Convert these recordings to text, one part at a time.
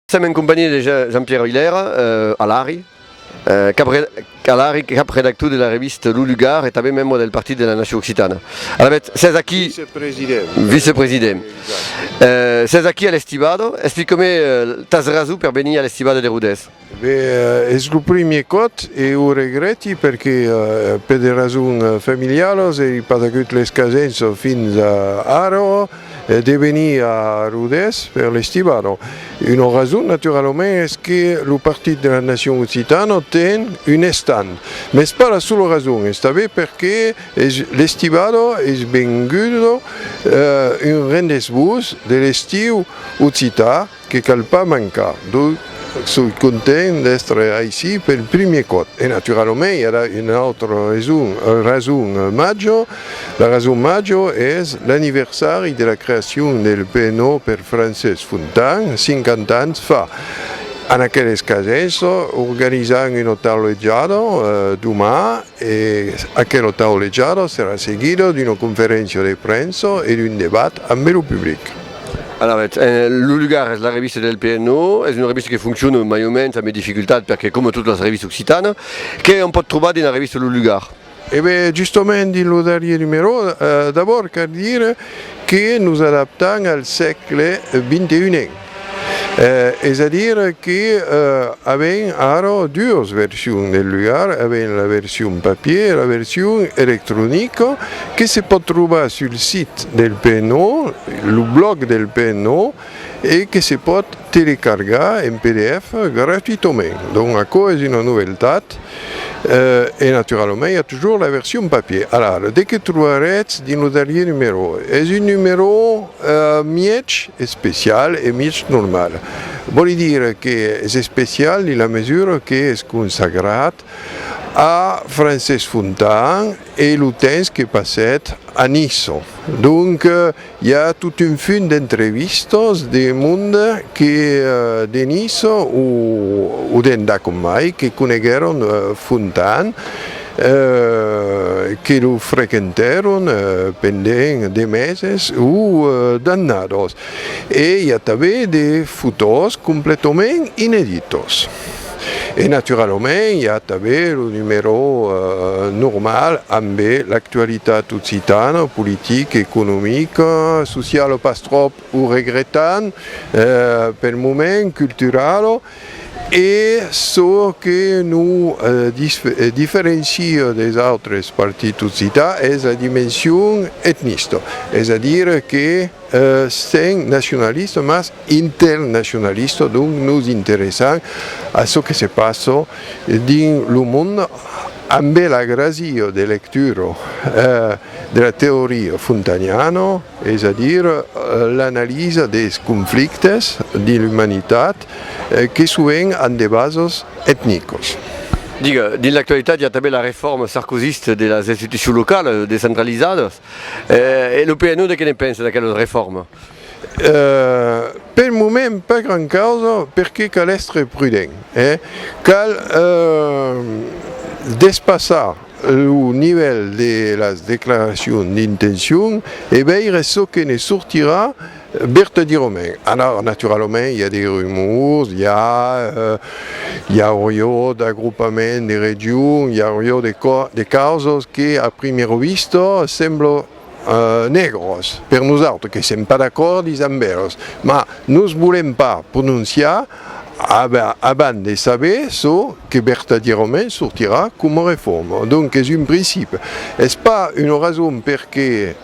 Sèm en companhiá de Jean-Pierre Oilèra, Alari, cap redactor de la revista Lo Lugar e tanben membre del Partit de la Nacion Occitana. Alavetz, sètz aquí. Vicepresident. Vicepresident. Sètz aquí a l'Estivada. Explica-me tas rason per venir a l'Estivada de Rodés. Be es lo primier còt e o regrèti perque per de rasons familiaras ei pas agut l'escasenç fins ara de venir a Rodés per l'estivada. Una rason naturalament es que lo Partit de la Nacion Occitana ten un estand, mes pas la sola rason, estabé perque l'estivada es venguda un rendez-vous de l'estiu occità, Que cal pas mancar, donc soi content d'estre aicí pel primier còp. E naturalament i a la una autra raison, raison major, la raison major es l'anniversari de la creacion del PNO per Francés Fontan, 50 ans fa. En aqueles cases organizam una taulejada doman E aquelo taulejado serà seguido d'una conferéncia de premsa e d'un debat ambe lo public. Alavetz, en lo lugar es la revista del PNO, es una revista que foncciona mai o mens ambe dificultat perque coma totas las revistas occitana, qué òm pòt trobar dins la revista Lo Lugar? E ben, justament dins lo darrier numerò, d'abòrd cal dire que nos adaptam al sègle 21n. Es a dire que avèm ara duas versions del lugar, avèm la version papier e la version electronica que se pòt trobar sul site del PNO, lo blòg del PNO, e que se pòt telecargar en pdf gratuitament. Donc aquò es una novèltat. format e naturalament i a toujours la version papier. Alara, de que trobarètz dins lo darrier numerò? Es un numerò mièg especial e mièg normal. Vòli dire que es especial dins la mesura que es consagrat a Francés Fontan e lo temps que passèt a Niçon. Donc, I a tot un funt d'entrevistas de monde que de Niça o d'endà com mai que coneguèron Fontan, que lo frequentèron pendent de meses o d'annadas. E i a tanben de fotòs completament ineditas. E naturalament i a tanben lo numèro normal ambe l'actualitat occitana, politica, economica, sociala pas tròp, o regretant pel moment, culturala, e çò que nos diferencia deis autres partits occitans es la dimension etnista, es a dire que. Sèm nacionalista mas internacionalista, donc nos interessam a çò que se passa dins lo monde ambé la gràcia de lectura de la teoria fontaniana, es a dire l'analisa dels conflictes dins l'umanitat que sovent an de basas etnicas. Dins l'actualitat i a tanben la reforma sarkozista de las institucions localas descentralizadas. E lo PNUD que ne pensa d'aquela reforma? Pel moment pas gran causa perque cal èstre prudent, cal despassar lo nivèl de las declaracions d'intencion e veire çò que ne sortirà Berthe Diromen, Alors, naturalament, i a de rumors, i a i aurió d'agrupament de regions, i aurió de de causas que a primero visto semblo negros per nosautres, que sèm pas d'acòrdis amb eles, mas nos volèm pas prononciar Abans de saber çò que vertadièrament sortirà coma reforma. Donc es un principi. Es pas una rason perqué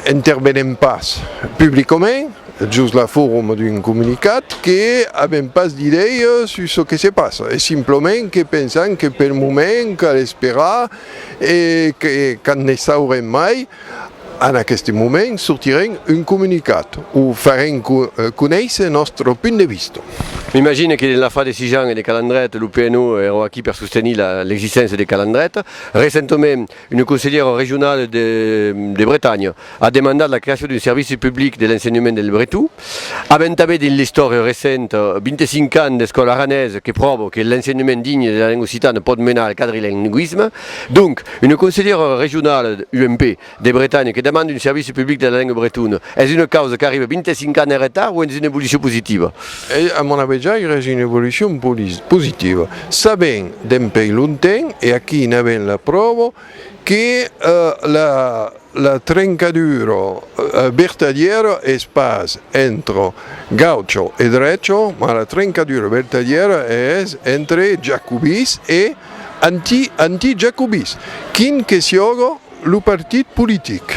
intervenem pas publicament, jos la forma d'un comunicat, que avem pas d'idèia sus çò que se passa. Es simplement que pensam que pel moment cal esperar e que quand ne saurem mai, En aqueste moment sortirem un comunicat o farem conéisser nòstre punt de vista. M'imagine que l'afar de Sijan e de Calandret, lo PNU èra aquí per sostenir l'existéncia de Calandret. Recentament, una conselhèra regionala de Bretanha a demandat la creacion d'un servici public de l'ensenhament del breton. Avèm tanben dins l'istòria recenta 25 ans d'escòla aranesa que pròva que l'ensenhament digne de la lenga occitana pòt menar al quadrilingüisme. Donc, una conselhèra regionala UMP de Bretanha que demande un servici public de la lenga bretona, es una causa qu'arriba 25 ans en retard o es una evolucion positiva? A mon abejaire es una evolucion positiva, sabent dempèi longtemps, e aquí n'avèm la pròva, que la trencadura vertadièra es pas entre gaucho e drecho, mas la trencadura vertadièra es entre jacobins e. Anti anti jacobis, quin que siòga lo partit politic.